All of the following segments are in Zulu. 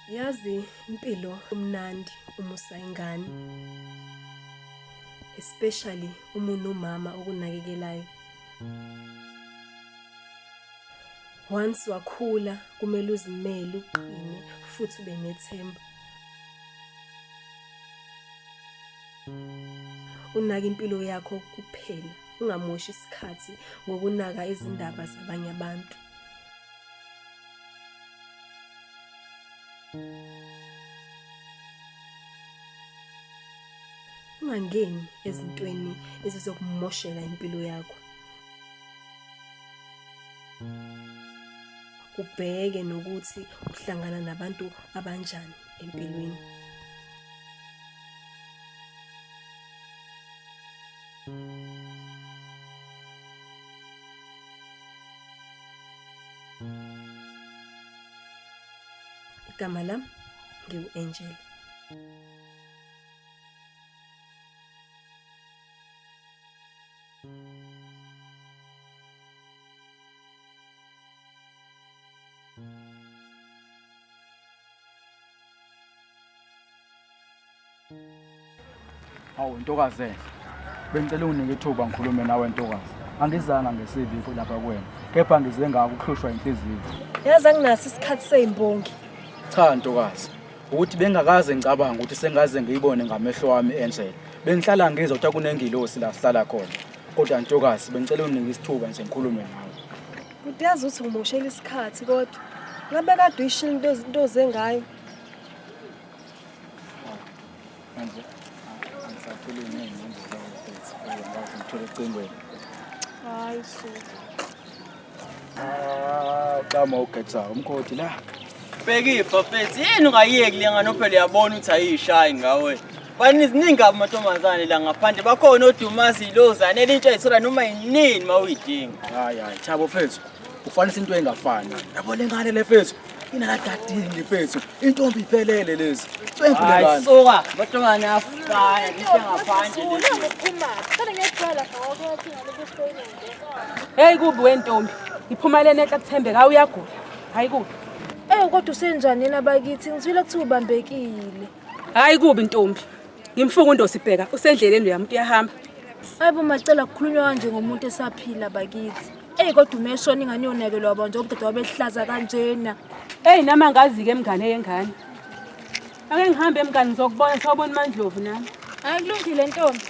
Yazi impilo umnandi uma usayingane. Especially uma unomama okunakekelayo. Once wakhula kumele uzimele uqine futhi ube nethemba. Unaka impilo yakho kuphela, ungamoshi isikhathi ngokunaka izindaba zabanye abantu. Ungangeni ezintweni ezizokumoshela impilo yakho. ubheke nokuthi uhlangana nabantu abanjani empilweni igama lam ngiwu-angel Hawu ntokazi enhle. Bengicela unginike ithuba ngikhulume nawe ntokazi. Angizanga ngesiviko lapha kuwena, kepha ngize ngakuhlushwa inhliziyo. Yazi anginaso isikhathi sezimbongi. Cha ntokazi, ukuthi bengakaze ngicabanga ukuthi sengaze ngiyibone ngamehlo wami enjele bengihlala ngizwa ukuthi akunengilosi la sihlala khona kodwa ntokazi bengicela uningi isithuba nje ngikhulume nawe Bhuti yazi ukuthi ngimoshela isikhathi kodwa ngabe kade uyishilo into into zengayo Manje angisakhulumi ngiyinqondo zawo mfethu. Ngiyakwazi ngithola ecingweni. Hayi so. Ah, xama ugetsa umkhoti la. Bhekifa mfethu, yini ungayeki le ngane phela uyabona ukuthi ayishayi ngawe. Bani ziningi amantombazane la ngaphandle bakhona odumazi ilozane elintsha ithola noma yinini mawuyidinga. Hayi hayi, Thabo mfethu. Ufanisa into engafani. Yabo lengane le mfethu. inakadadini mfethu intombi iphelele lezi cwengulelani soka batongane afana ngiyangaphandle uphuma cela ngiyaqala ngoko ukuthi ngalokustoyini hey kubi wentombi iphuma lena ekuthembeka uyagula hayi kubi eh kodwa usenjani yena bakithi ngizwile ukuthi ubambekile hayi kubi ntombi ngimfunga undosibheka usendleleni uyamuntu uyahamba hayi bo macela kukhulunywa kanje ngomuntu esaphila bakithi eyi kodwa umeshona ingane yonakelwa bonje obudade wabehlaza kanjena eyi nami angazi-ke emngane yengane ake ngihambe emngane ngizokubona sawubona umandlovu nami hayi kulungile ntombi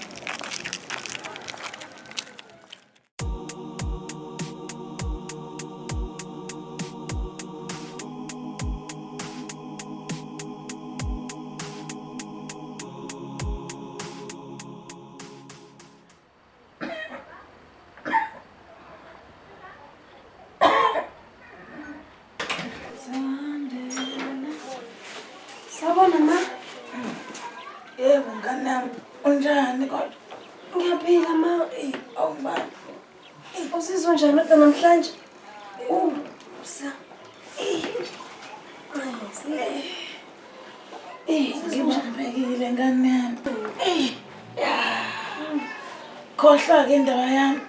Sawubona ma. Yebo ngane yami unjani kodwa? Ngiyaphila ma. Awubani? Usizwa njani kodwa namhlanje? Ngibambekile ngane yami. Khohlwa-ke indaba yami.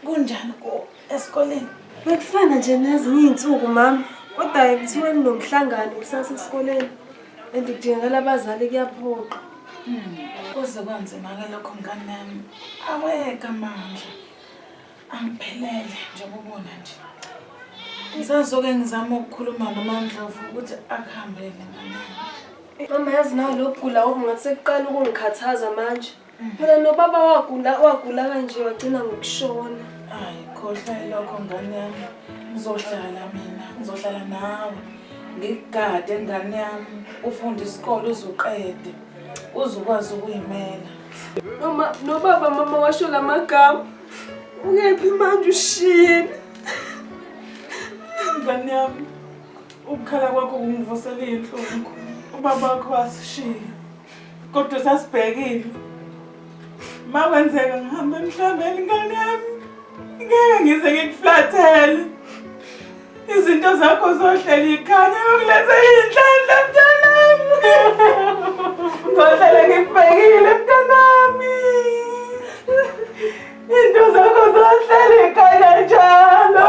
Kunjani ku esikoleni? Bekufana nje nezinye iy'nsuku mama. Kodwa kuthiwa kunomhlangano kusasa esikoleni and kudingakala abazali kuyaphoqa. Kuze kwanzima-ke lokho ngane yami. Aweka amandla. angiphelele njengoba ubona nje ngisazoke ngizama ukukhuluma nomandlovu ukuthi akuhambele mama yazi nawo lo gula okungathi sekuqala ukungikhathaza manje mm. phela nobaba wagula wagula kanje wagcina ngokushona hayi khohlwa ilokho ngane yami ngizohlala mina ngizohlala nawe ngigade ngane yami ufunde isikole uzuqede uzokwazi ukuyimela noma nobaba mama washo la magama ukephi manje ushiyile ngane yami ukukhala kwakho kungivusela iy'nhlungu ubaba wakho wasishiya kodwa sasibhekile ma kwenzeka ngihamba emhlabeni ngane yami ngeke ngize ngikuflathele izinto zakho zohlela ikhanya yokuletha iy'nhlanhla mntanami ngohlele ngikubhekile mntanami into zakho zohlele ikhanya njalo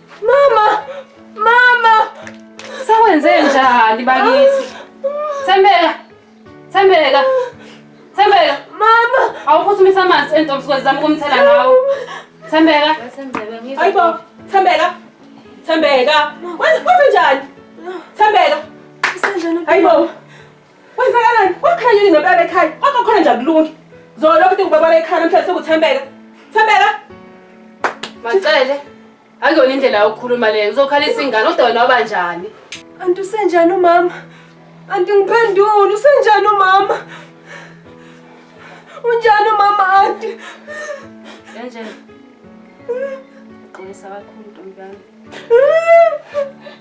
Mama! Mama! Sawenze njani bakithi? Thembeka! Thembeka! Thembeka! Mama! Awuphuthumise amanzi entombi sikwazi zama ukumthela ngawo. Thembeka! Ayibo! Thembeka! Thembeka! Wenze njani? Thembeka! Ayibo! Kwenzakalani? Wakhanya yini ngempela ekhaya? Kodwa khona nje akulungi. Zolo kodwa ngibabala ekhaya namhlanje sekuthembeka. Thembeka. Macele. Akuyona indlela yokukhuluma leyo. Uzokhalisa ingane kodwa wena waba njani? Anti usenjani umama? Anti ngiphendule usenjani umama? Unjani umama anti? Enje. Qinisa kakhulu ntombami.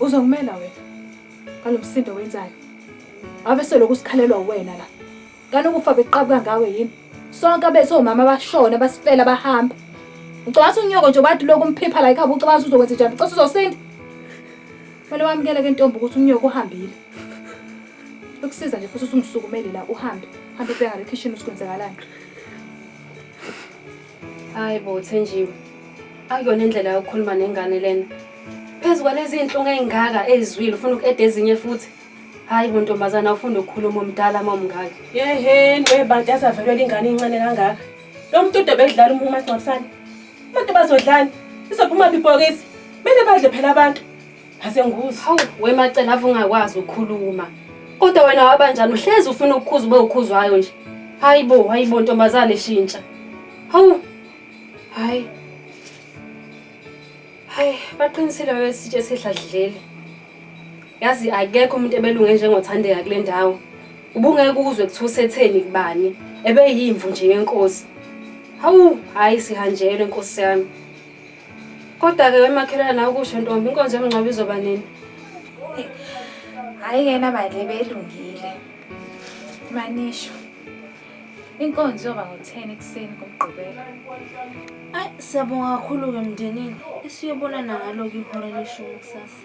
Uzongimela wena ngalo msindo wenzayo. Ngabe seloku sikhalelwa wena la. Kana ukufa beqabuka ngawe yini? Sonke abe somama abashona basifela bahamba. Ucabanga unyoko nje bathi lokhu umphipha la ekhaya ucabanga uzokwenza njani? Ucabanga uzosinda? Kumele wamukele ke ntombi ukuthi unyoko uhambile. Ukusiza nje futhi usungisukumele la uhambe. Hambe ubheka le kitchen usikwenzakalani. hayi bo thenjiwe akuyona indlela yokukhuluma nengane lena phezu kwalezi iy'nhlungu ey'ngaka ey'zwile ufuna uku-eda ezinye futhi hhayi bo ntombazana ufunda ukukhuluma omdala uma umngaka yeheni webantu yasavelwela ingane incane kangaka lo muntu ude bedlala uma umagcwabisane abantu bazodlani izophuma bibhokisi kumele badle phela abantu Asenguzi. Hawu wemacela ave ungakwazi ukukhuluma. Kodwa wena wabanjani uhlezi ufuna ukukhuza ube ukhuzwayo nje. Hayibo, hayibo ntombazane shintsha. Hawu. Hayi. Hayi, baqinisile wesitshe sehladleli. Yazi akekho umuntu ebelunge njengothandeka kule ndawo. Ubungeke ukuzwe kuthiwa usetheni kubani. Ebeyimvu nje yenkosi. Hawu, hayi sihanjelwe nkosi yami. Kodwa-ke wemakhelwane nawe kusho ntombi inkonzo yomngcwabo izoba nini? Hhayi kena bandle belungile. Manisho. Inkonzo yoba ngo-10 ekuseni kumgqibelo. Ayi siyabonga kakhulu-ke mndenini esiyobonana ngalo-ke ihora leshumi kusasa.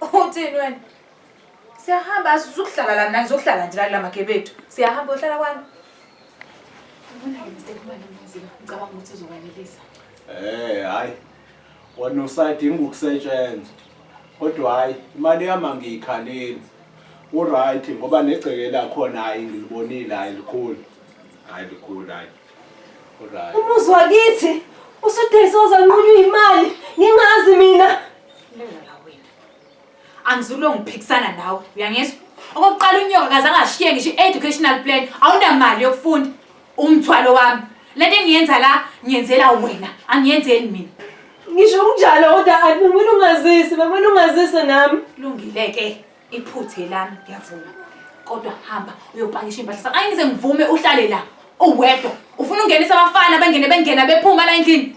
Uthini wena? Siyahamba sizokuhlala la mina ngizokuhlala nje la makhe bethu. Siyahamba uhlala kwami. Ubona ke mistake imali emuzika. Ngicabanga ukuthi uzokwanelisa. Eh hayi. Wena usadinga ukusetshenzwa. Kodwa hayi imali yami angiyikhaleli. Uright ngoba negceke lakhona hayi ngilibonile hayi likhulu. Hayi likhulu hayi. Uright. Umuzi wakithi usudayisa uzanqunywa imali ngingazi mina. Lala la wena. Angizulwe ngiphikisana nawe, uyangizwa? Okokuqala unyoka kaze angashiye ngisho i-educational plan, awunamali yokufunda. Umthwalo wami. Le nto engiyenza la ngiyenzela wena, angiyenzeli mina. Ngisho kunjalo kodwa akumele ungazisi, bekumele ungazise nami. Lungile-ke iphuthe lami ngiyavuma. Kodwa hamba uyopakisha impahla sakho. Angize ngivume uhlale la uwedwa. Ufuna ungenisa abafana bengene bengena bephuma la endlini.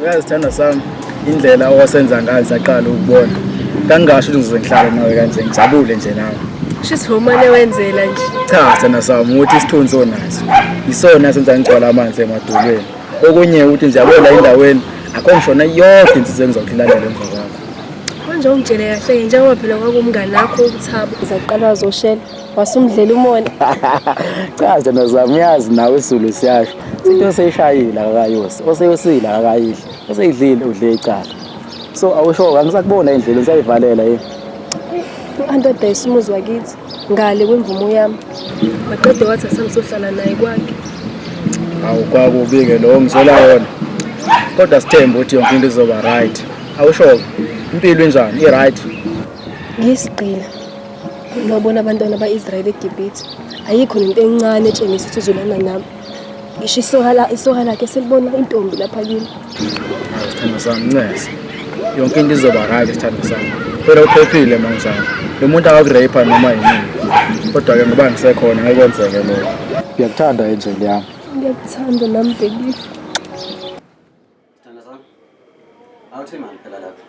uyazithanda sami indlela owasenza ngayo saqala ukubona kangasho ukuthi ngizoze ngihlale nawe kanje ngijabule nje nawe shisi womane wenzela nje cha sithanda sami ukuthi isithunzi onaso yisona senza ngigcwala amanzi emadolweni okunye ukuthi nje abola endaweni akho ngishona yonke insizwa engizawuhilalela emva kwakho manje ungitshele kahle-ke njengoba phela kwakumngani akho ukuthaba ngizaqala wazoshela wasumdlela umona cha nje nozami uyazi nawe isulu siyasho into oseyishayile akayose oseyosile akayidli oseyidlile udle icala so awusho angisakubona indlela ngisayivalela yini u-anti odayisa umuzi wakithi ngale kwemvumo yami maqede wathi asangizohlala naye kwakhe awu kwakubi-ke lowo ngizela wona kodwa sithembe ukuthi yonke into izoba right awusho-ke impilo injani i-right ngiyisigqila Nobona abantwana ba-Israyeli eGibhithe. Ayikho nento encane etshengisa ukuthi uzolana nami. Ngisho isoka isoka lakhe selibona intombi lapha kimi. Sithando sami ncese. Yonke into izoba right sithando sami. Phela uphephile manjani. Lo muntu akakureyipha noma yini. Kodwa ke ngoba ngisekhona ngeke kwenzeke lokho. Ngiyakuthanda angel yami. Ngiyakuthanda nami baby. Sithanda sami. Awuthi imali phela lapha.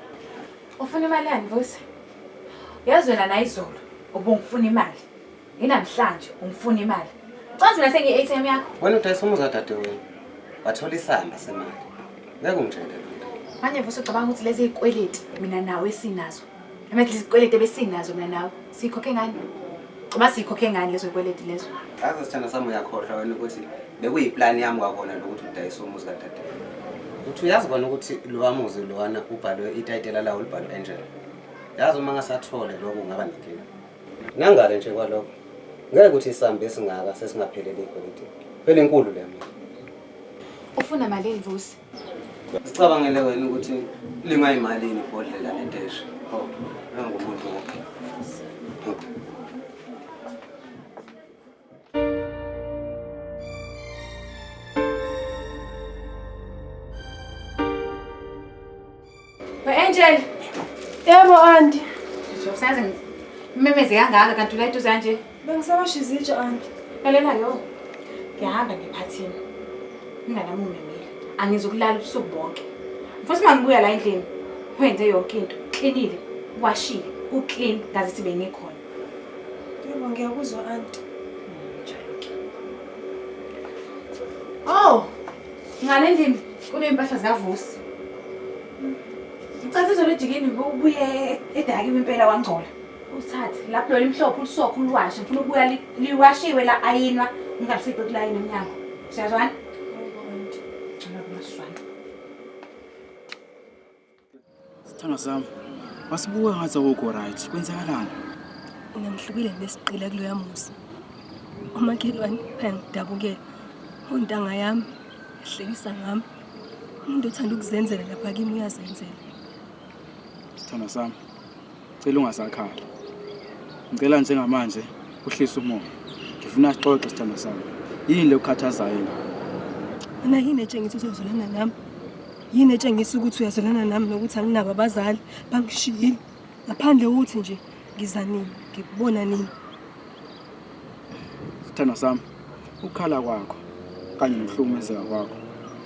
Ufuna imali yani Vusi? Yazi wena naye izolo ubungifuna imali. Nginamhlanje ungifuna imali. Ucazi mina sengiyi ATM yakho. Wena udayisa umuzi kadade wena. Wathola isamba semali. Ngeke ungitshele lutho. Manje Vusi ucabanga ukuthi lezi izikweleti mina nawe sinazo. Amathi izikweleti ebesinazo mina nawe sikhokhe ngani? Uma sikhokhe ngani lezo kweleti lezo? Aze sithanda sami uyakhohlwa wena ukuthi bekuyiplan yami kwakona lokuthi udayise umuzi kadade. Uthi uyazi kona ukuthi lowa muzi lowana ubhalwe itayitela lawo libhalwe Angel. Yazi uma ngasathole lokho kungaba nenkinga. Nangale nje kwalokho. Ngeke ukuthi isambe esingaka sesingaphelele ikweleti. Phela inkulu le mina. Ufuna malini Vusi? Sicabangele wena ukuthi lingayimalini ibhodlela ledeshi. Oh, nangomuntu wonke. We-Angel. Yebo, anti. Ngizokusaze ngimemeze kangaka kanti ula eduze kanje. Bengisabasha izitsha, anti. Lalela yo. Ngiyahamba ngiphathini. Inganami ungimemile. Angizukulala ubusuku bonke. Mfuthu uma ngibuya la endlini, wenze yonke into. Klinile, washile, uklin ngaze sibe ngikhona. Yebo, ngiyakuzwa, anti. Oh, Ngale ndini kuney'mpahla zikavusi ucathi izolo ejikeni ubuye edakiwe impela wangcola uthathe lapho lona imhlophe ulisokho uliwashe ngifuna ukubuya li- liwashiwe la ayinwa ngingalifici kulayini emnyango siyazwana Sithando sami, wasibuka ngathi awukho right. Kwenzakalani? Mina ngihlukile nesiqila kuloya muzi. Umakhelwane ayangidabukela. Ontanga yami ehlekisa ngami. Umuntu othanda ukuzenzela lapha kimi uyazenzela. Sithando sami, Cela ungasakhali. Ngicela njengamanje uhlise umoya. Ngifuna sixoxe sithando sami. Yini le ukhathazayo la? Mina yini etshengisa ukuthi uzolana nami? Yini etshengisa ukuthi uyazolana nami nokuthi anginabo abazali bangishiyile? Ngaphandle ukuthi nje ngizanini, ngikubona nini? Sithandwa sami, ukukhala kwakho kanye nokuhlukumezeka kwakho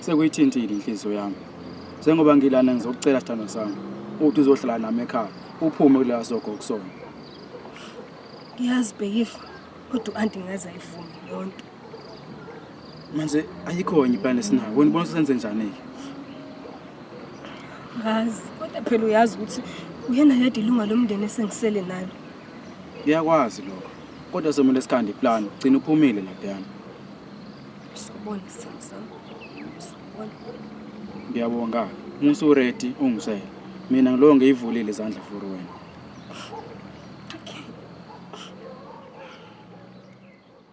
sekuyithintile inhliziyo yami. Njengoba ngilana ngizokucela sithandwa sami ukuthi uzohlala nami ekhaya uphume kulela sogo kusona. Ngiyazi Bhekifa kodwa u-anti ngaze ayivume leyo nto. Manje ayikho enye iplan esinayo. Wena ubona ukuthi senze njani-ke? Ngazi kodwa phela uyazi ukuthi uyena yedwa ilunga lomndeni esengisele nalo. Ngiyakwazi lokho. Kodwa somele sikhande iplan, gcina uphumile laphayana. Sobona sasa. Sobona. Ngiyabonga. Musa uready ungisele. Mina ngilo ngiyivulile izandla for wena.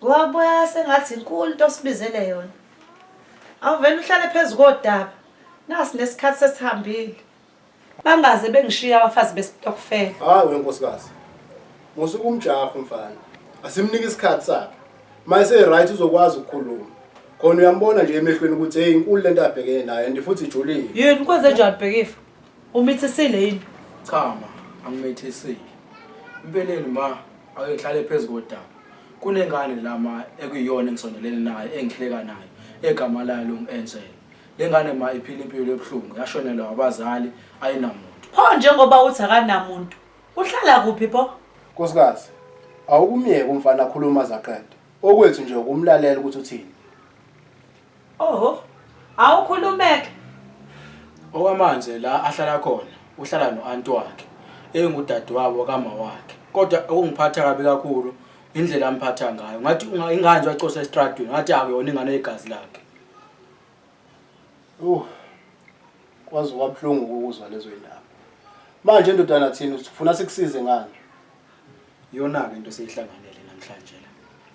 Wabuya sengathi inkulu into osibizele yona. Awuvele uhlale phezu kodaba. Nasi nesikhathi sesihambile. Bangaze bengishiya abafazi besitokfela. Hayi wenkosikazi. Musuku umjaho mfana. Asimnike isikhathi sakhe. Mayise right uzokwazi ukukhuluma. Khona uyambona nje emehlweni ukuthi hey inkulu lento abhekene nayo and futhi ijulile. Yini kwenze njani bhekifa? Umithisile yini? Cha ma, angimithisile. Impeleni ma, akehlale phezu kodaba. Kunengane lama ekuyona engisondelene nayo engihleka nayo egama layo longu-Angel. Le ngane ma iphila impilo ebuhlungu yashonelwa abazali ayinamuntu. Pho njengoba uthi akanamuntu, uhlala kuphi pho? Nkosikazi, awukumyeke umfana akhuluma zaqeda. Okwethu nje ukumlalela ukuthi uthini. Oho. Awukhulumeke. Okwamanje la ahlala khona uhlala noanti wakhe engudadewabo kama wakhe. Kodwa okungiphatha kabi kakhulu indlela amphatha ngayo. Ngathi unga- inganje wacosha estradweni ngathi akuyona ingane yegazi lakhe. Yho. Kwaze kwabuhlungu ukuzwa lezo indaba. Manje ndodana thina usifuna sikusize ngani? Iyona-ke into eseyihlanganele namhlanje la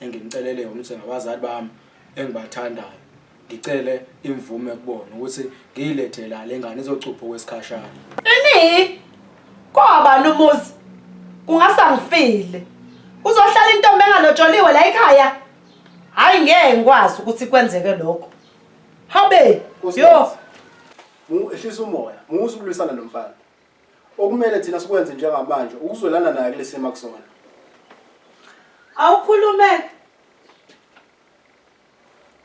engingicelele yona ukuthi ngabazali bami engibathandayo ngicele imvume kubona ukuthi ngiyilethe la le ngane izocupha okwesikhashana. Ini? Kwabani umuzi? Kungase angifile. Uzohlala intombi engalotsholiwe la ekhaya? Hayi ngeke ngikwazi ukuthi kwenzeke lokho. Habe, yo, Mu ehlisa umoya, musa ukulwisana nomfana. Okumele thina sikwenze njengamanje ukuzwelana naye kulesimo akusona. Awukhulume.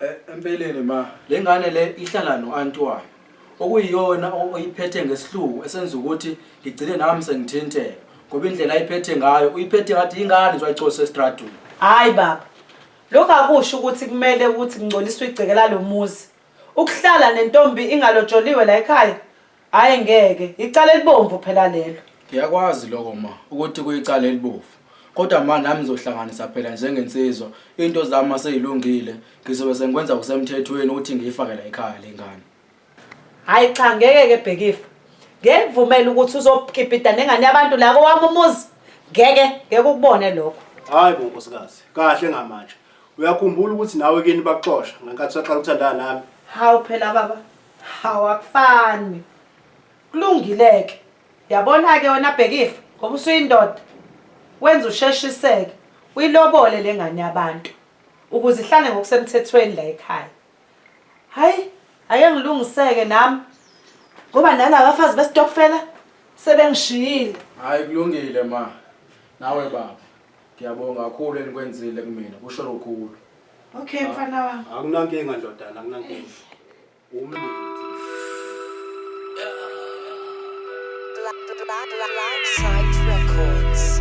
Eh, empeleni ma, le ngane le ihlala no-anti wayo. Okuyiyona o- oyiphethe ngesihluku esenza ukuthi ngigcine nami sengithinteka. Ngoba indlela ayiphethe ngayo, uyiphethe ngathi yingane nje wayicose estradini. Hayi baba. Lokho akusho ukuthi kumele ukuthi kungcoliswe igceke lalomuzi. Ukuhlala nentombi ingalojoliwe la ekhaya Hayi ngeke, icala elibomvu phela lelo. Ngiyakwazi lokho ma ukuthi kuyicala elibovu. Kodwa ma nami ngizohlanganisa phela njengensizwa into zami seyilungile ngizobe sengikwenza kusemthethweni ukuthi ngiyifake la ekhaya lengane. Hayi cha ngeke ke bhekifa. Ngeke ngivumele ukuthi uzokipita nengane yabantu la kowami umuzi. Ngeke ngeke ukubone lokho. Hayi bo nkosikazi, kahle ngamanje. Uyakhumbula ukuthi nawe kini bakuxosha ngenkathi usaqala ukuthandana nami. Hawu phela baba. Hawu akufani. Kulungileke. Yabona ke wena bhekifa ngoba usuyindoda. Wenza usheshiseke. Uyilobole lengane yabantu ukuze ihlale ngokusemthethweni la ekhaya. Hayi, ake ngilungiseke nami. Ngoba nala bafazi besitokfela sebengishiyile. Hayi kulungile ma. Nawe baba. Ngiyabonga kakhulu enikwenzile kumina. Kusho lukhulu. Okay mfana wami. Akunankinga ndodana, akunankinga. Umlungu. Black Site Records.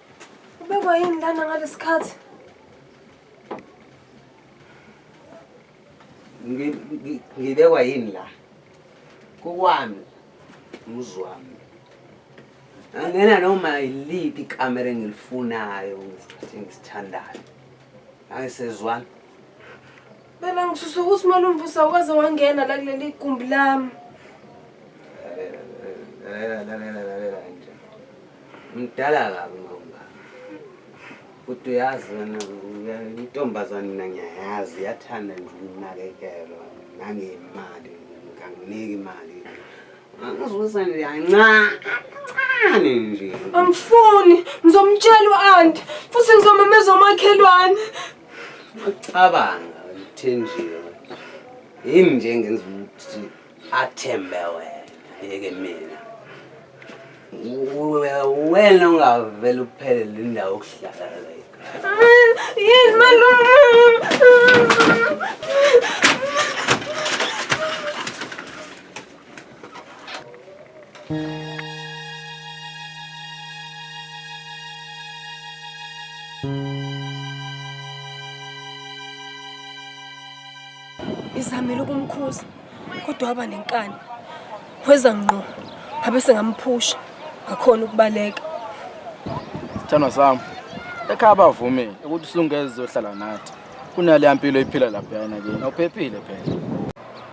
Ubekwa yini lana ngalesikhathi? Ngibekwa yini la? Kukwami muzwami. Angena noma yiliphi ikamera engilifunayo ngisithandayo. Angisezwani. Bela ngisusa ukuthi malumvusa waze wangena la kuleli gumbi lami. Lalela lalela lalela nje. Mdala kabi mawunga. Uthi uyazi wena intombazane mina ngiyayazi yathanda nje ukunakekelo nangemali nganginiki imali. Angizuza nje yancane nje. Angifuni ngizomtshela uanti futhi ngizomemeza omakhelwane. Ucabanga uthenjiwe. Yini nje engenza ukuthi athembe wena yeke mina. Wena ungavele uphele le ndawo okuhlala la ekhaya. Yini malume? Ngizamile ukumkhuza kodwa waba nenkani. Weza ngqo ngabe sengamphusha ngakhona ukubaleka. Sithando sami ekhaya bavumile ukuthi usungeze uzohlala nathi. Kunaleya mpilo iphila lapha yana kini. Awuphephile phela.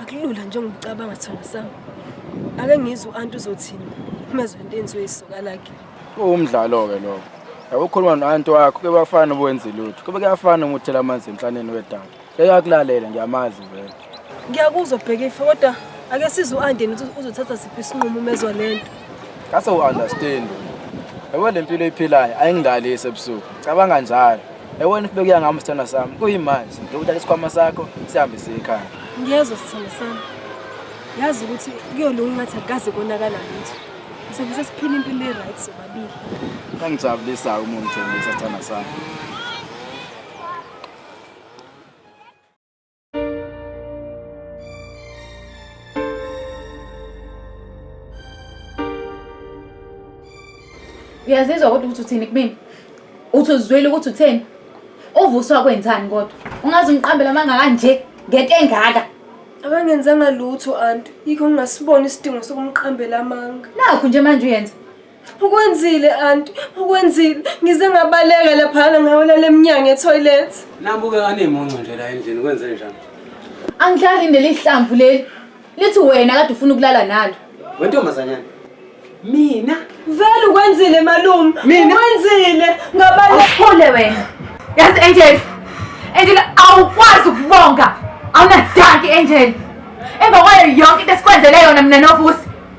akulula njengocabanga thina sami ake ngizwe u-anti uzothini uma ezwa into enziwe isoka lakhe kuwumdlalo-ke lokho yabo ukhuluma no-anti wakho ke bafana ubuwenzi lutho kube kuyafana uma uthela amanzi emhlaneni wedada eyakulalela ngiyamazi vele ngiyakuzwa bhekifa kodwa ake size u-ande nithi uzothatha siphi isinqumo uma ezwa le nto ngase u-understand yabo le mpilo eyiphilayo ayingidlalisi ebusuku cabanga njalo Yabona if bekuya ngami sithanda sami kuyimanje ngiyokuthatha isikhwama sakho sihambe siye ekhaya. Ngiyezwa sithanda sami. Yazi ukuthi kuyolunga ngathi akukaze konakala lutho. Sobe sesiphila impilo e-right sobabili. Kangijabulisa uma ungithembisa sithanda sami. uyazizwa kodwa ukuthi uthini kumina uthi uzizwile ukuthi utheni uvuswa kwenzani kodwa ungaze ungiqambela amanga kanje ngento engaka akangenzanga lutho anti yikho ngingasiboni isidingo sokumqambela amanga nakho nje manje uyenza Ukwenzile anti, ukwenzile. Ngize ngabaleka laphana ngawela lemnyango etoilet. Nabuke anemuncu nje la endlini kwenze njani? Angidlali neli hlamvu leli. Lithi wena kade ufuna ukulala nalo. Wentombazanyana. Mina Vele ukwenzile malume. Mina? Ukwenzile ngabaleka. Uphule wena. Yazi Angel. Angel awukwazi ukubonga. Awunadanki Angel. Emva kwayo yonke into esikwenzele yona mina novusi.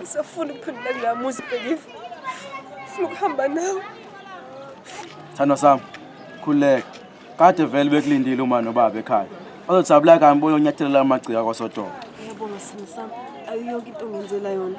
Ngisafuna ukuphendula kula muzi Bhekile. Ngifuna ukuhamba nawe. Thandwa sami, khuleka. Kade vele bekulindile uma nobaba ekhaya. Bazojabula kambi boyonyathelela amagcika kwasodolo. Ngiyabonga simo sami. Ayiyonke into ongenzela yona.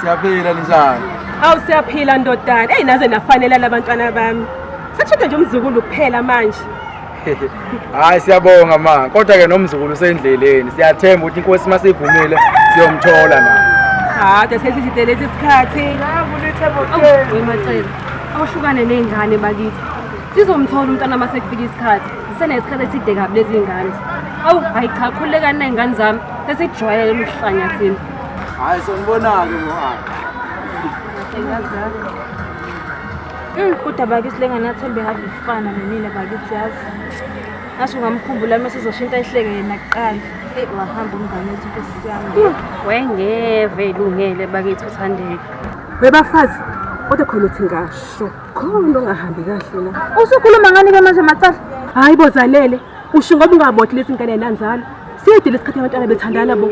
Siyaphila ninjani? Awu siyaphila ndodana. Ey naze nafanela labantwana bami. Sashoda nje umzukulu kuphela manje. Hayi siyabonga ma. Kodwa ke nomzukulu usendleleni. Siyathemba ukuthi inkosi masivumile siyomthola na. Ha, sesithi sidele isikhathi. Wemacela. Awuhlukane nezingane bakithi. Sizomthola umntana masekufika isikhathi. Sisenesikhathi eside kabi lezingane. Awu, hayi cha khulekani nezingane zami. Sesijwayele umhlanya thina. Hayi sonibonake ngo Mm, kodwa bakithi lenganathembe have ifana nenina bakithi yazi ngasho ngamkhumbula uma sizoshintsha ihleke yena kuqala eyi wahamba umngane wethu nkosi yami hmm, wengeve ilungele bakithi uthandeka webafazi kodwa khona uthi ngasho khona ongahambi kahle la usukhuluma ngani-ke manje macala hhayi bozalele Usho ngoba ungabothi lesi ngane nanzalo. Siyedile isikhathi abantwana bethandana bo.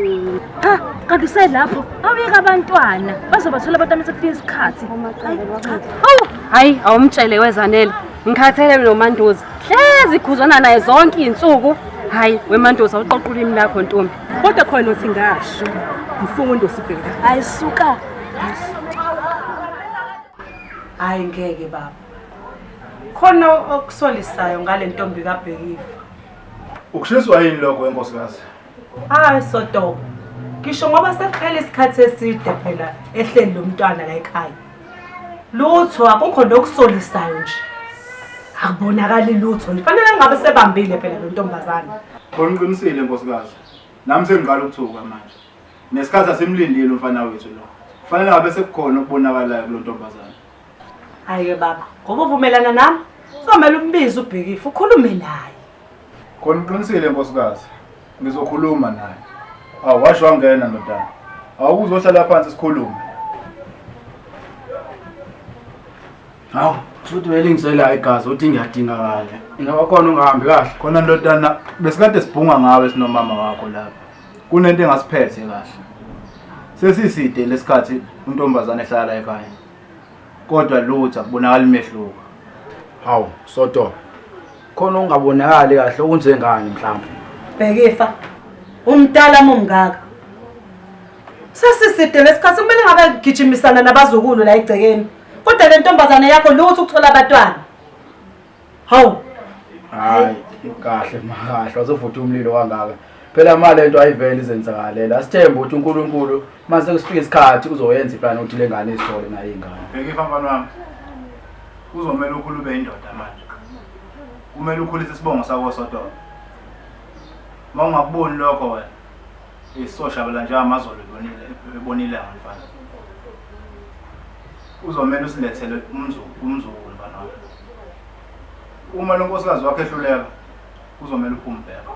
Cha, kanti uselapho. Awuyeka abantwana. Bazobathola abantwana sekufika isikhathi. Awu, hayi awumtshele wezanele. Ngikhathele noMandoza. Hlezi khuzwana naye zonke izinsuku. Hayi, weMandoza uqoqa ulimi lakho ntombi. Kodwa khona uthi ngasho. Mfundo sibheka. Ayisuka. Hayi ngeke baba. Khona okusolisayo ngale ntombi kaBhekifa. Ukushiswa yini lokho wenkosikazi? Hayi sodobo. Ngisho ngoba sekuphele isikhathi eside phela ehleli lo mntwana la ekhaya. Lutho akukho nokusolisayo nje. Akubonakali lutho. Kufanele ngabe sebambile phela lo ntombazane. Khona uqinisile nkosikazi. Nami sengiqala ukuthuka manje. Nesikhathi asimlindile umfana wethu lo. Kufanele ngabe sekukhona okubonakalayo kulo ntombazane. Hayi-ke baba, ngoba uvumelana nami kuzomele umbize ubhekifu ukhulume naye. Khona uqinisile nkosikazi. Ngizokhuluma naye. Awu washo wangena ndodana. Awukuzohlala phansi sikhulume. Hawu, futhi welingisela igazi uthi ngiyadingakala. Ingaba khona ungahambi kahle. Khona ndodana besikade sibhunga ngawe sinomama wakho lapha. Kunento engasiphethe kahle. Sesiside lesikhathi untombazane ehlala ekhaya. kodwa lutho akubonakali umehluko hawu soto khona ungabonakali kahle okunjengani mhlawumbe bhekifa umdala mumngaka sesiside lesikhathi kumele ngabe gijimisana nabazukulu la egcekeni kodwa le ntombazane yakho lutho ukuthola abatwana Hawu. Hayi, kahle makahle wazovutha umlilo wangaka. Phela mali lento ayivele izenzakalela. Asithembe ukuthi uNkulunkulu mase kusifika isikhathi uzoyenza iplan ukuthi lengane izithole nayo ingane. Bhekifa mfana wami. Kuzomela ukhulu ube indoda manje. Kumele ukhulise isibongo sakho sodwa. Uma ungakuboni lokho wena isoshabela nje amazolo ebonile ebonile mfana. Uzomela usilethele umzulu umzulu mfana wami. Uma lo nkosikazi wakho ehluleka kuzomela uphume bheka.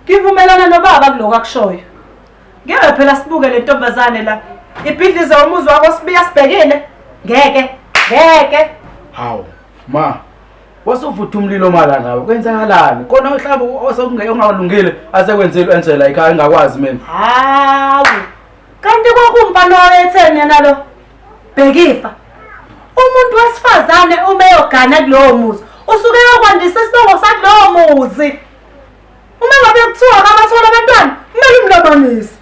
Ngivumelana nobaba kuloko akushoyo. Ngeke phela sibuke le ntombazane la. Ibhidlize umuzi wakho sibiya sibhekile. Ngeke, ngeke. Hawu, ma. Wasuvutha umlilo mala ngawe. Kwenzakalani? Kona uhlaba osokungeke ungalungile asekwenzile Angela ekhaya engakwazi mina. Hawu. Kanti kwakumfana owetheni yena lo? Bhekifa. Umuntu wesifazane uma eyogana kulowo muzi, usuke eyokwandisa isibongo sakulowo muzi. Uma ngabe kuthiwa akabathola abantwana, kumele umlobanise.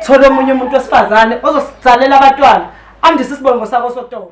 Thola omunye umuntu wesifazane ozosizalela abantwana, andise isibongo sakho sotolo.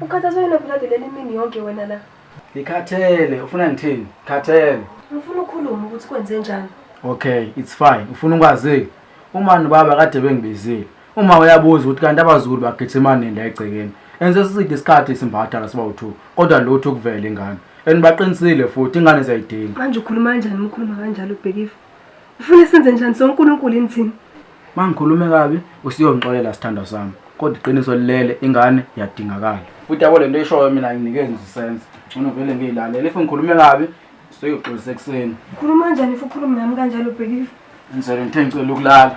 Ukhathazwe yini obulade leli mini yonke wena la? Ngikhathele, ufuna ngithini? Khathele. Ngifuna ukhulume ukuthi kwenze njani. Okay, it's fine. Ufuna ukwazi uma nobaba kade bengibizile. Uma uyabuza ukuthi kanti abazulu bagijima nini la egcekeni. Enze siside isikhathi isimbatha la siba u2. Kodwa lutho kuvela ingane. And baqinisile futhi ingane ziyayidinga. Manje ukhuluma kanjani umkhuluma kanjalo ubhekifa? Ufuna senze njani so uNkulunkulu yini thina? Mangikhulume kabi usiyongixolela sithandwa sami. Kodwa iqiniso lilele ingane yadingakala. Futhi yabo lento eshoyo mina nginikeze ngizisenze. Ngcono vele ngiyilalela. If ngikhulume kabi soyoxolisa ekuseni. Ukhuluma kanjani if ukhuluma nami kanjalo bhekile? Ngizele ngithe ngicela ukulala.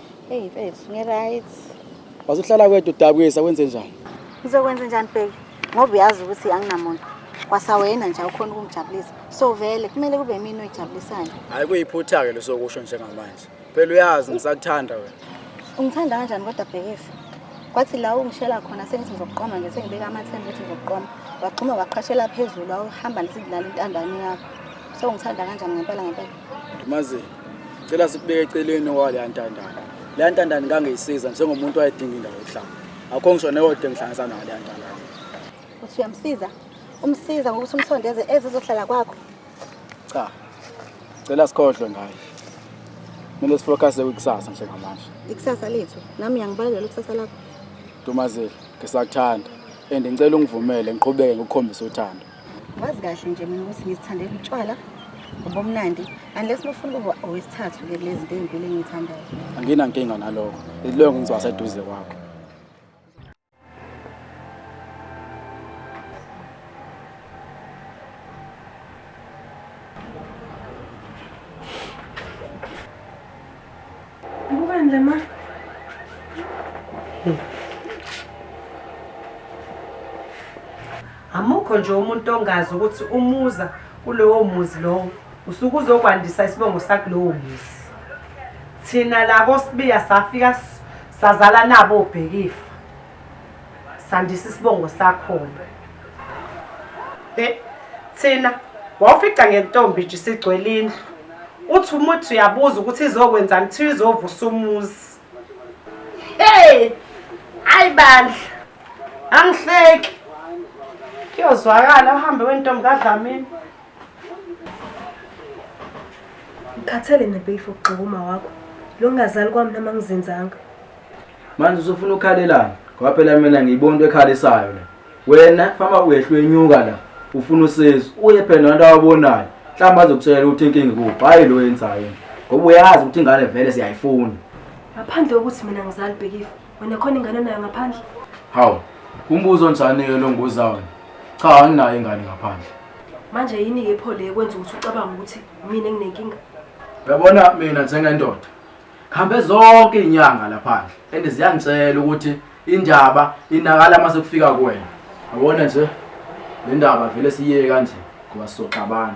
Hey mfethu, ngi-right. Wazuhlala kwedwa udabukisa wenze njani? Ngizokwenza njani bheki? Ngoba uyazi ukuthi anginamuntu. Kwasawena nje awukhona ukungijabulisa. So vele kumele kube yimini oyijabulisayo. Hayi kuyiphutha-ke lesokusho njengamanje. Phela uyazi ngisakuthanda wena. Ungithanda kanjani kodwa bhekisi? Kwathi la ungishela khona sengithi ngizokuqoma nje sengibeka amathemba ukuthi ngizokuqoma. Waqhuma waqhashela phezulu wawuhamba nesikulala intandane yakho. So ungithanda kanjani ngempela ngempela? Mazi cela sikubeke eceleni waleya ntandane. Leya ntandane ngangiyisiza njengomuntu wayedinga indawo yokuhlala. Akho ngisho neyodwa engihlanganisa nayo leya ntandane. Uthi uyamsiza? Umsiza ngokuthi umsondeze ezizohlala kwakho. Cha. Cela sikhohlwe ngaye. Kumele sifocuse kwikusasa njengamanje. Ikusasa lethu. Nami ngiyangibalekela ikusasa lakho. Dumazile, ngisakuthanda. And ngicela ungivumele ngiqhubeke ngikukhombisa uthando. wazi kahle nje mina ukuthi ngizithandela utshwala ubumnandi unless nofuna ukuba owesithathu ke kulezi zinto ezimpilo engiyithandayo anginankinga naloko iloko ngizoba seduze kwakho Ukwandla ma. Amukho nje umuntu ongazi ukuthi umuza kulowo muzi lowo usuke uzokwandisa isibongo sakulowo muzi. Thina labo sibiya safika sazala nabo obhekifa. sandisa isibongo sakhona e thina wawufica ngentombi nje sigcwele indlu uthi umuthi uyabuza ukuthi izokwenzani kuthiwa izovusa umuzi hey hayi bandla angihleki kuyozwakala uhambe wentombi kadlamini ngikhathele nempeyifo ukugxika uma wakho lo ngingazali kwami noma ngizenzanga manje usufuna ukhalelana ngoba phela mina ngiyibona into ekhalisayo le wena fama uyehlwenyuka la ufuna usizo uye phela nanto awabonayo mhlawumbe azokutshela ukuthi inkinga kuphi hhayi lo yenzayo ngoba uyazi ukuthi ingane vele siyayifuna ngaphandle kokuthi mina ngizali bhekifa wena khona ingane nayo ngaphandle hawu umbuzo onjani-ke lo nguzawona cha anginayo ingane ngaphandle manje yini-ke pho le kwenza ukuthi ucabanga ukuthi mina enginenkinga uyabona mina njengendoda Ngihambe zonke izinyanga laphandle and ziyangitshela ukuthi indaba inakala mase kufika kuwena. Yabona nje le ndaba vele siyiye kanje ngoba sizoxabana.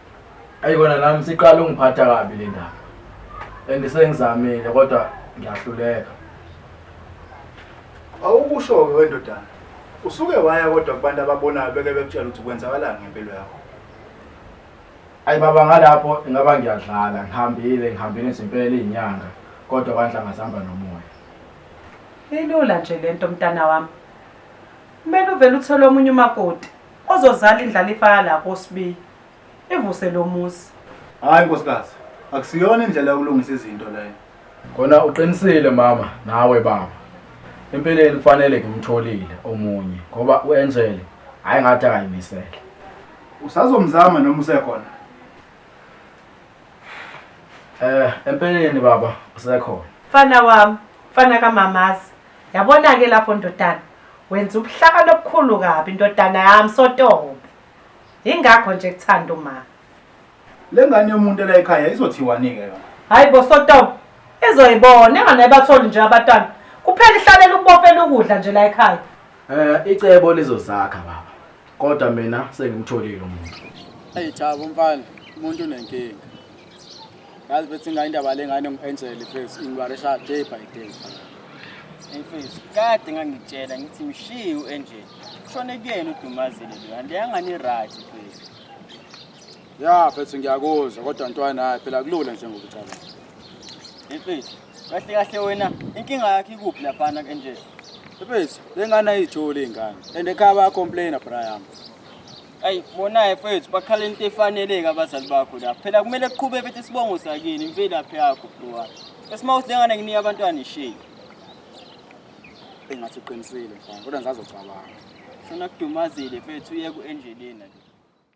Ayi kona nami siqala ungiphatha kabi le ndaba. And sengizamile kodwa ngiyahluleka. Awukusho-ke wendodana. Usuke waya kodwa kubantu ababonayo beke bekutshela ukuthi kwenzakalani ngempilo yakho. Ayi baba ngalapho ingaba ngiyadlala ngihambile ngihambile izimpela izinyanga kodwa kwanhla ngasihamba nomoya. Ilula nje lento mntana wami. Kumele uvele uthole omunye umakoti. Ozozala indlalifa yala kosibiyi ivuse lo muzi. Hayi nkosikazi, akusiyona indlela yokulungisa izinto leyo. Kona uqinisile mama nawe baba. Empeleni kufanele ngimtholile omunye ngoba uAngel hayi ngathi akayimisele. Usazomzama noma usekhona? Eh empeleni baba usekhona. Mfana wami, mfana kamamazi. Yabona-ke lapho ndodana wenza ubuhlakani obukhulu kabi ndodana yami sotobe yingakho nje kuthanda uma le ngane yomuntu ela ekhaya izothiwani-ke yona hhayi bo sotobe izoyibona engane batholi nje abatwana kuphela ihlalela ukubofela ukudla nje la ekhaya um icebo lizozakha baba kodwa mina sengimtholile umuntu eyi jabo mfana umuntu unenkinga yazi bethi ngayo indaba le ngane ngu-angel face ingibaresha day by day imfethu kade ngangitshela ngithi mshiye u-angel kushone kuyena udumazile lo kanti yangani right mfethu ya mfethu ngiyakuzwa kodwa ntwana hayi phela kulula njengokucabanga imfethu Kahle kahle wena inkinga yakhe ikuphi laphana kenje? Mfethu, lengane ayijoli ingane. And ekhaya baya complainer bra yami. Ayi bonaye mfethu bakhala into efaneleke abazali bakho la. Phela kumele kuqhube bethe isibongo sakini imvelaphi yakho bro. Esimawuthi lengane nginika abantwana isheyi. Engathi uqinisile mfana, kodwa ngizazocabanga. Shona kudumazile mfethu uye ku-engelina ke.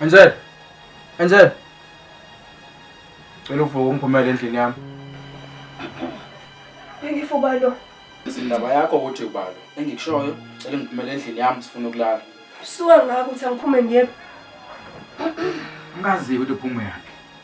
Enzel. Enzel. Cela uvuke ungiphumele endlini yami. Bengifuba lo. Indaba yakho ukuthi ubalo. Engikushoyo cela ngiphumele endlini yami sifuna ukulala. Suka ngakho ukuthi angiphume ngiyephi. Ngazi ukuthi uphuma yaphi.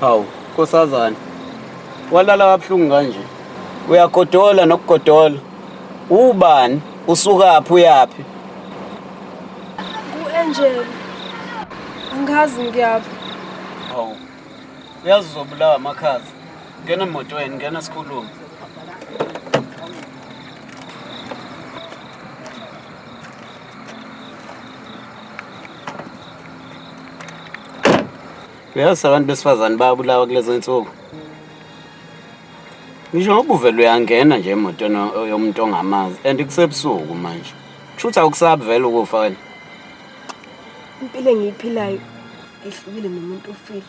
Hawu, nkosazana. Walala kabuhlungu kanje. Uyagodola nokugodola. Ubani? Usukaphi uyaphi? Ku-Angel. Angazi ngiyaphi. Hawu. Uyazi uzobulawa amakhaza. Ngena emotweni, ngena sikhulume. uyazi abantu besifazane bayabulawa kulezi nsuku ngisho ngoba uvele uyangena nje emotweni yomuntu ongamazi and kusebusuku manje kusho ukuthi awukusabi vele ukufa wena impilo engiyiphilayo ihlukile nomuntu ofile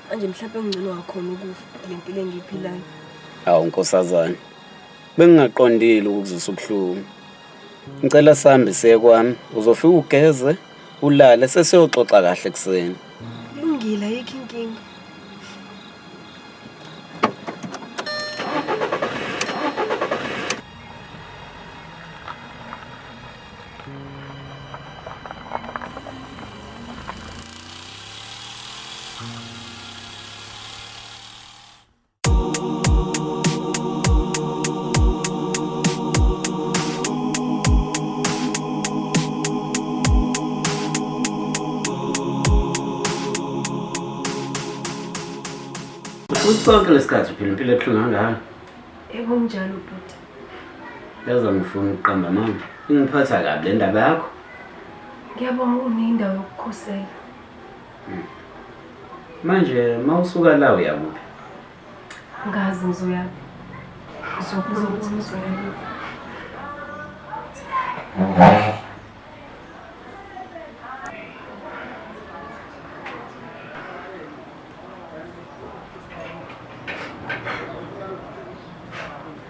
manje mhlawumbe engcono wakhona ukufa le mpilo engiyiphilayo hawu nkosazane bengingaqondile ukuzisa ubuhlungu Ngicela sambe siye kwami uzofika ugeze ulale sesiyoxoxa kahle kuseni. Lungile ayikho inkinga. futhi sonke lesikhathi uphila impilo ebuhlungu kangaka ekunjalo bhuti yaza ngifuna ukuqamba mama ingiphatha kabi le ndaba yakho ngiyabonga uneyindawo yokukhosela Manje mawusuka la uyakuphi? Ngazi ngizoya. Ngizobuza ukuthi ngizoya kuphi.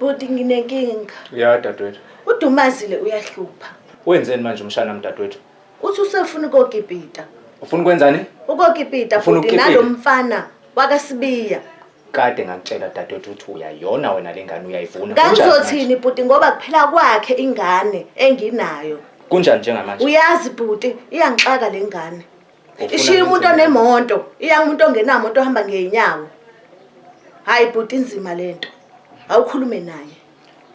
Bhuti nginenkinga. Ya dadwethu. Udumazile uyahlupha. Wenzeni manje umshana mdadwethu? Uthi usefuna ukogibhida. Ufuna ukwenzani? Ukogibhida Ufuna futhi ukukipita? nalomfana wakasibiya. kade ngakutshela dadewethu ukuthi uyayona wena le ngane uyayivuna Kunjani manje? kangizothini bhuti ngoba kuphela kwakhe ingane enginayo kunjani njengamanje uyazi bhuti iyangixaka le ngane Ufuna ishiya umuntu ngenze onemoto iya umuntu ongenamoto ohamba ngey'nyawo hhayi bhuti inzima le nto awukhulume naye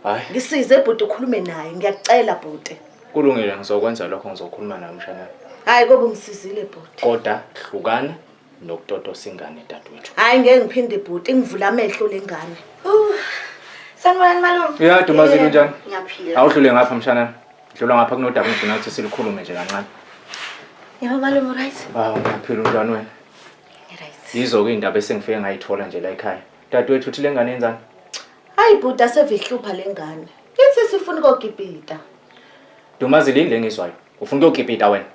hayi ngisize bhuti ukhulume naye ngiyakucela bhuti kulungile ngizokwenza lokho ngizokhuluma naye umshana hhayi kobe ungisizile bhuti koda hlukana nokutotosa ingane dadewethu hayi ngeke ngiphinde bhuti ngivula amehlo lengane sanibonani malume uyade umazini unjani ngiyaphila awudlule ngapha mshanami dlula ngapha kunodaba ngifuna ukuthi silikhulume nje kancane yebo malume right hawu ngiyaphila umntwana wena yizo-ke iy'ndaba esengifike ngayithola nje la ekhaya dadewethu uthi le ngane yenzani hayi bhuti asevihlupha le ngane ithi sifuna ukogibhida Dumazile yini lengizwayo? Ufuna ukuyokipita wena?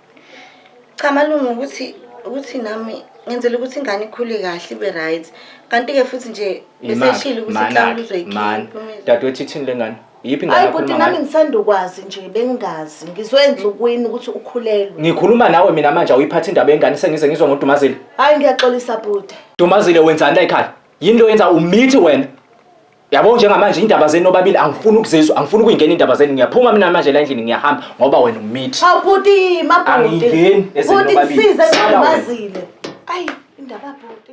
Cha malume ukuthi ukuthi nami ngenzela ukuthi ingane ikhule kahle ibe right. Kanti ke futhi nje beseshilo ukuthi mhlawumbe uzoyikhipha. Dadewethu ithini lengane? Yiphi ingane Hayi buti nami ngisanda ukwazi nje bengazi. Ngizwe enzukwini ukuthi ukhulelwe. Ngikhuluma nawe mina manje awuyiphathi indaba yengane sengize ngizwa ngoDumazile. Hayi ngiyaxolisa buti. Dumazile wenzani la ekhaya? Yini lo yenza umithi wena? Yabo njengamanje indaba zenu nobabili angifuni ukuzizwa, angifuni ukuyingena indaba zenu. Ngiyaphuma mina manje la endlini ngiyahamba ngoba wena umithi. Awu bhuti, mabhuti. Angingeni ezenu Bhuti nobabili. ngisize Sala wena. ngimazile. Ayi, indaba bhuti.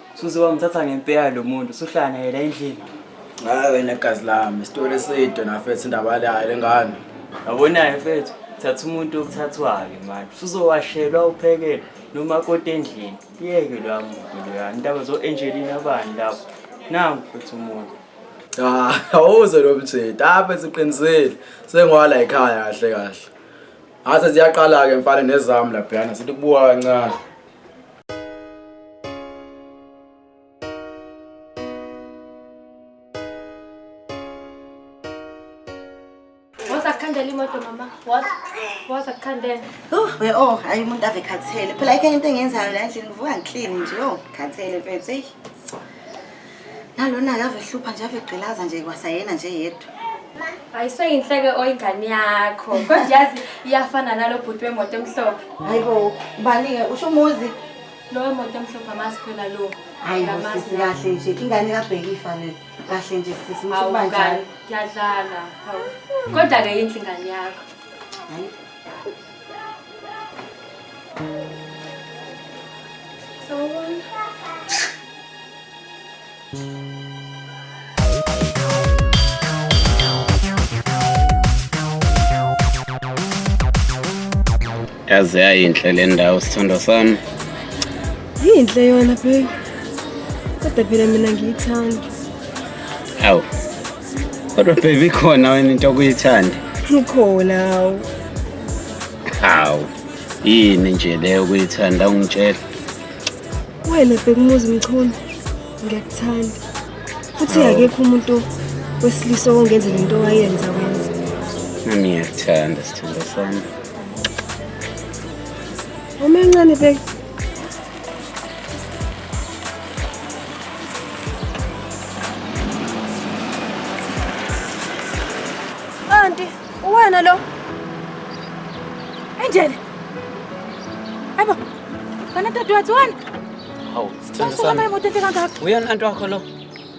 Suze wangithatha ngempeya lo muntu suhlala naye la endlini. Hayi wena gazi lami isitori eside nafethu indaba yayo lengane. Yabonayo mfethu thatha umuntu okuthathwayo manje usuzowashelwa uphekele noma kodwa endlini kuyeke lwa muntu loya intaba zo-angelina abani lapho nangu futhi umuntu Ah, awuze lo mjita apha siqinisile sengwala ekhaya kahle kahle. Ase ziyaqala ke mfana nezami laphana sithi kubuka kancane. Khandela imoto mama. What? What akhandela? Oh, we oh, hayi umuntu ave khathele. Phela ikho into engenzayo la endlini ngivuka ngiclean nje. Oh, khathele mfethu. nalona ake avehlupha nje avegqilaza nje kwasayena nje yedwa ayiseyinhleke oyingane yakho kodwa yazi iyafana nalo bhuti wemoto emhlophe hayi bo ubani-ke usho umuzi lowo moto emhlophe amazi phela lo hayi sisi kahle nje ingane kabhekifa le kahle nje sisi msbanjalo kuyadlala kodwa-ke yinhle ingane yakho yaze yayinhle le ndawo sithandwa sami yinhle yona baby kodwa phela mina ngiyithanda awu Kodwa baby khona wena into okuyithanda. Ukhona hawu. Hawu. Yini nje leyo okuyithanda ungitshela. Wena bekumuzi mchunu. Ngiyakuthanda. Futhi akekho umuntu wesilisa ongenza lento wayenza wenza. Nami ngiyakuthanda sithando sami. Uma encane bek Anti, uwena lo. Angel. Aybo. Kana tatu watu wana? Hawu, sithanda sana. Uyena anti wakho lo.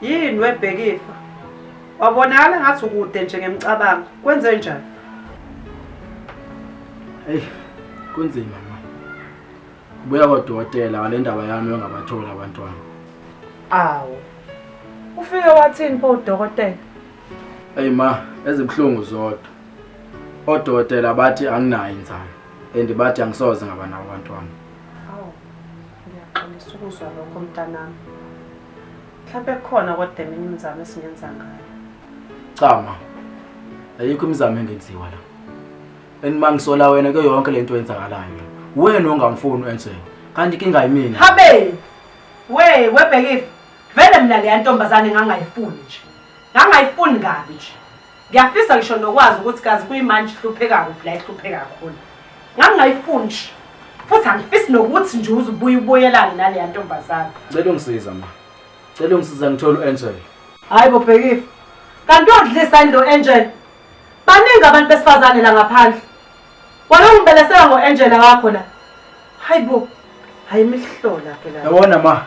yini webhekifa wabonakala ngathi ukude nje ngemcabango kwenze njani eyi kunzima ma ubuya kodokotela wale ndaba yami yongabatholi abantwana awu ufike wathini pho udokotela eyi ma ezibuhlungu zodwa odokotela bathi anginayo inzalo and bathi angisoze ngaba nabo abantwana awu ngiyaxolisa ukuzwa lokho mntanami mhlawumbe khona kodwa eminye imizamo esingenza ngayo cha ma ayikho imizamo engenziwa la and ma ngisola wena kuyo yonke le nto eyenzakalayo wena ongamfuni enje kanti kinga yimina habe we webhekive vele mina leya ntombazane ngangayifuni nje ngangayifuni kabi nje Ngiyafisa ngisho nokwazi ukuthi kazi kuyimanje ihlupheka kuphi la ihlupheka kakhulu. Ngangingayifuni nje. Futhi angifisi nokuthi nje uze ubuye ubuyelane naleya ntombazane. Cela ungisiza ma. Cela ungisiza ngithole u-Angel. Hayi bo Bhekifa. Kanti odlisa into Angel. Baningi abantu besifazane la ngaphandle. Wena ungibelesela ngo-Angel wakho la. Hayi bo. Hayi imihlola ke la. Yabona ma.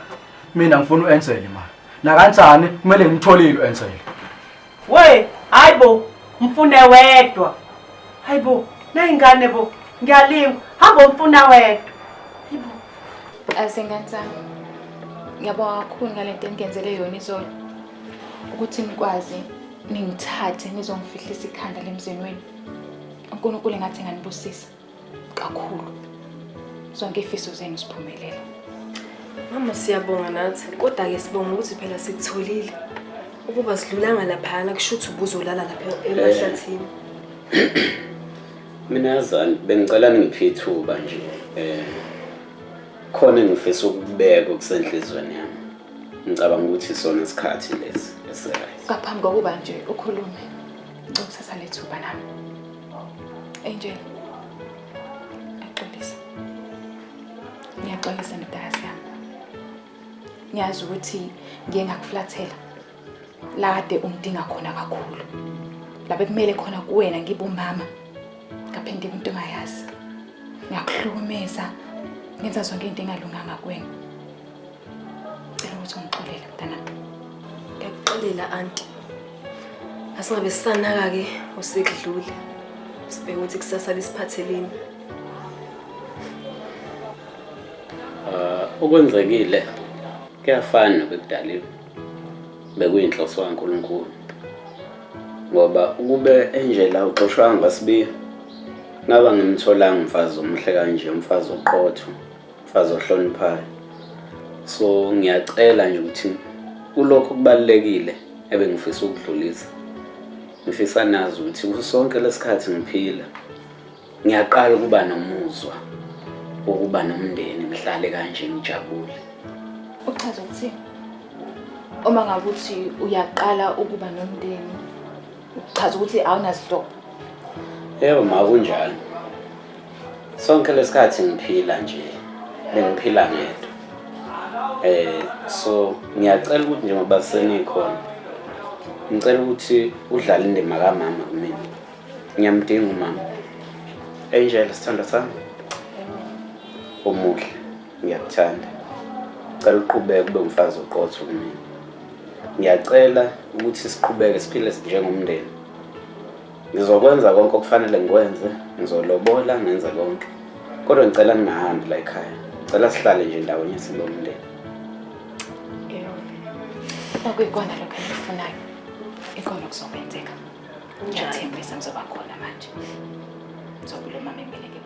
Mina ngifuna u-Angel ma. Nakanjani kumele ngimtholile u-Angel. We, hayi bo, mfune wedwa. Hayi bo, nayingane bo, ngiyalingwa. Hamba mfuna wedwa. Hayi bo. Asengane sami. Ngiyabonga kakhulu ngalento enigenzele yona izolo. Ukuthi nikwazi ningithathe nizongifihlisa ikhanda lemzeni wenu. uNkulunkulu engathi nganibusisa kakhulu zonke ifiso zenu siphumelela mama siyabonga nathi kodwa-ke sibonga ukuthi phela sikutholile ukuba sidlulanga laphayana kusho ukuthi ubuzolala lapha emahlathini mina yazani bengicela ningiphe ithuba nje um khona engifisa ukubeka okusenhlizweni yami ngicabanga ukuthi isona isikhathi lesi esiright ngaphambi kokuba nje ukhulume Ngicela ukuthatha lethuba nami. Angel. Axolisa. Ngiyaxolisa ndodakazi yami. Ngiyazi ukuthi ngiye ngakuflathela. La kade ungidinga khona kakhulu. La bekumele khona kuwena ngibe umama. Ngaphinde umuntu ongayazi. Ngiyakuhlukumeza. Ngenza zonke into engalunganga kuwena. Cela ukuthi ungixolele mntanami. Ngiyakuxolela anti. Asingabe sisanaka-ke osekudlule. Sibheke ukuthi kusasa lisiphatheleni. Uh, okwenzekile kuyafana bekudaliwe bekuyinhloso kaNkuluNkulu ngoba ukube enjela uxoshwanga ngasibiya ngaba ngimtholanga umfazi omuhle kanje umfazi oqotho mfazi ohloniphayo so ngiyacela nje ukuthi kulokho kubalulekile ebengifisa ukudlulisa ngifisa nazi ukuthi kusonke lesikhathi ngiphila ngiyaqala ukuba nomuzwa wokuba nomndeni ngihlale kanje ngijabule uchaza ukuthi uma ngabe uthi uyaqala ukuba nomndeni uchaza ukuthi awunazihlobo yebo makunjalo sonke lesikhathi ngiphila nje bengiphila ngedwa eh so ngiyacela ukuthi njengoba senikhona ngicela ukuthi udlale indima kamama kumina ngiyamdinga umama angel sithando sami omuhle ngiyakuthanda cela uqhubeke kube umfazi oqotho kumina ngiyacela ukuthi siqhubeke siphile njengomndeni ngizokwenza konke okufanele ngikwenze ngizolobola ngenze konke kodwa ngicela ningahambi la ekhaya ngicela sihlale nje ndawonye sibe umndeni okuyikona lokho engikufunayo ikona okuzokwenzeka ngiyathembisa ngizoba khona manje ngizobulomama empeleke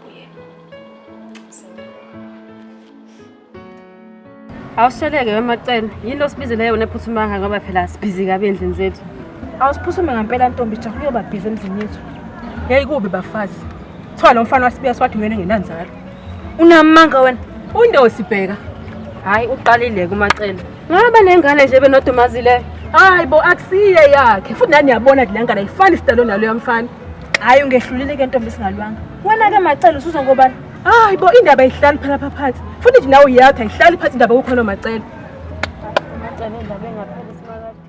Awusheleke wemacela. Yini osibizele yona ephuthumanga ngoba phela sibhizi kabi endlini zethu. Awusiphuthume ngempela ntombi cha kuyoba busy emzini yethu. Hey kubi bafazi. Kuthiwa lo mfana wasibiya siwathi wena engenanzalo. Unamanga wena. Undosi bheka. Hayi uqalile kumacela. Ngaba nengane nje benodumazileyo. Hayi bo akusiye yakhe. Futhi nani yabona ukuthi lengane ayifani sidalo nalo yamfana. Hayi ungehlulile ke ntombi singalwanga. Wena ke macela usuza ngobani? hayi bo indaba ayihlali phela pha phansi futhi nje nawe uyakho ayihlali phansi indaba yokukhona macele Macele indaba engapheli simakade.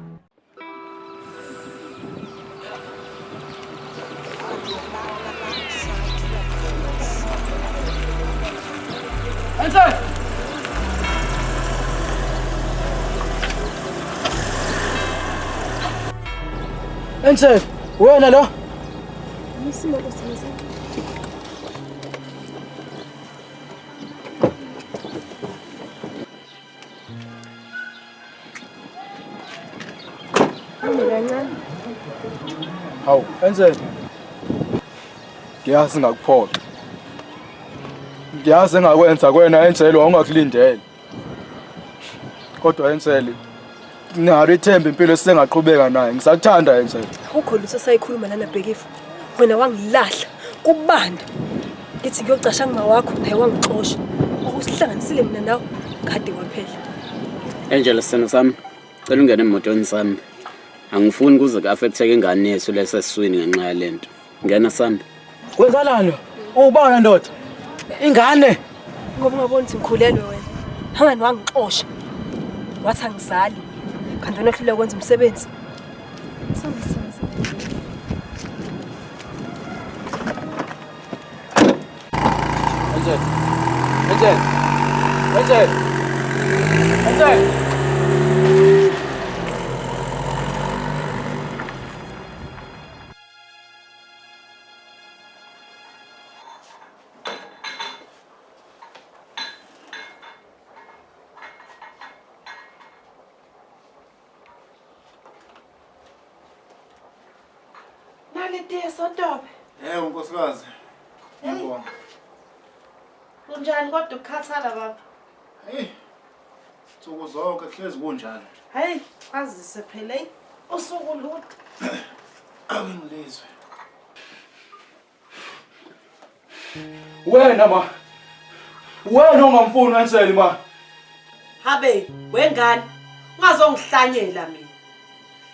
Ense, wena lo? Isimo kusebenza. Hawu, enzeni? Ngiyazi ngakuphoxa. Ngiyazi engakwenza kwena enjelo wawungakulindele. Kodwa Enseli nalo ithemba impilo esingaqhubeka naye. Ngisakuthanda Enseli. Akukho lutho sayikhuluma lana Bhekifu. Wena wangilahla kubanda. Ngithi ngiyocasha ngima wakho naye wangixosha. Okusihlanganisile mina nawe kade waphela. Angel sithando sami cela ungene emotweni sami angifuni kuze ku-affecteke ingane yethu lesesiswini ngenxa yalento Ngena Sanda. Kwenzanani? Ubona ndoda. Ingane. Ngoba ungaboni ukuthi ngikhulelwe wena. Hangani wangixosha. Wathi angizali. Kanti wena ohluleka ukwenza umsebenzi. Sambisa. Angel. Angel. Angel. Angel. Nalitiye sotobe. Eh unkosikazi. Ngibonga. Kunjani kodwa ukukhathala baba? Hey, Nsuku zonke kuhlezi kunjalo. Hayi, azise phela hey. Usuku lude. Awungilizwe. Wena ma. Wena ongamfuni wenseli ma. Habe, wengane. Ungazongihlanyela mina.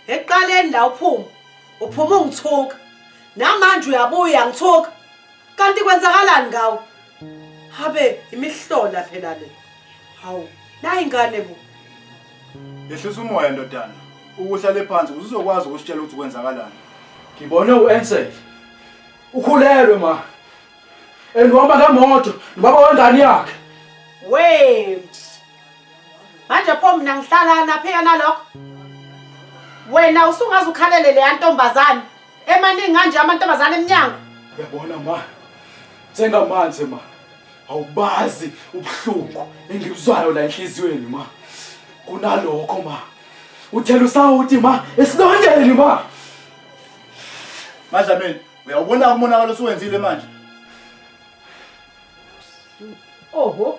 Eqaleni la uphuma. Uphuma ungithuka. Namanje uyabuya ngithuka. kanti kwenzakalani ngawo habe imihlola phela le hawu nayi ingane bo yehlisa umoya ndodana ukuhlale phansi uzokwazi ukusitshela ukuthi kwenzakalani ngibone uensel ukhulelwe ma and uhamba ngemoto nobaba wengane yakhe we manje pho mina ngihlala naphi yena lokho wena usungaze ukhalele leya ntombazane Emaningi kanje amantombazane emnyango. Yabona ma. Njengamanje ma. Awubazi ubuhlungu engibuzwayo la enhliziyweni ma. Kunalokho ma. Uthela usawuti ma esilondeni ma. Madlamini, uyawubona umonakalo osuwenzile manje? Oho.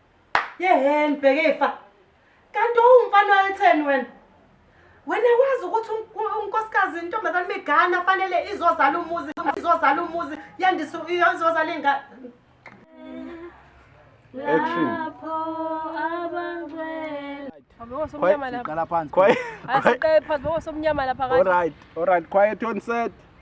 yeheni bhekefa kanti owumfana wayetheni wena wena wazi ukuthi unkosikazi intombazane migana fanele izozala umuzi izozala umuzi yandisa izozala ingane action lapho abangcwele Quiet, quiet, quiet. Quiet on set.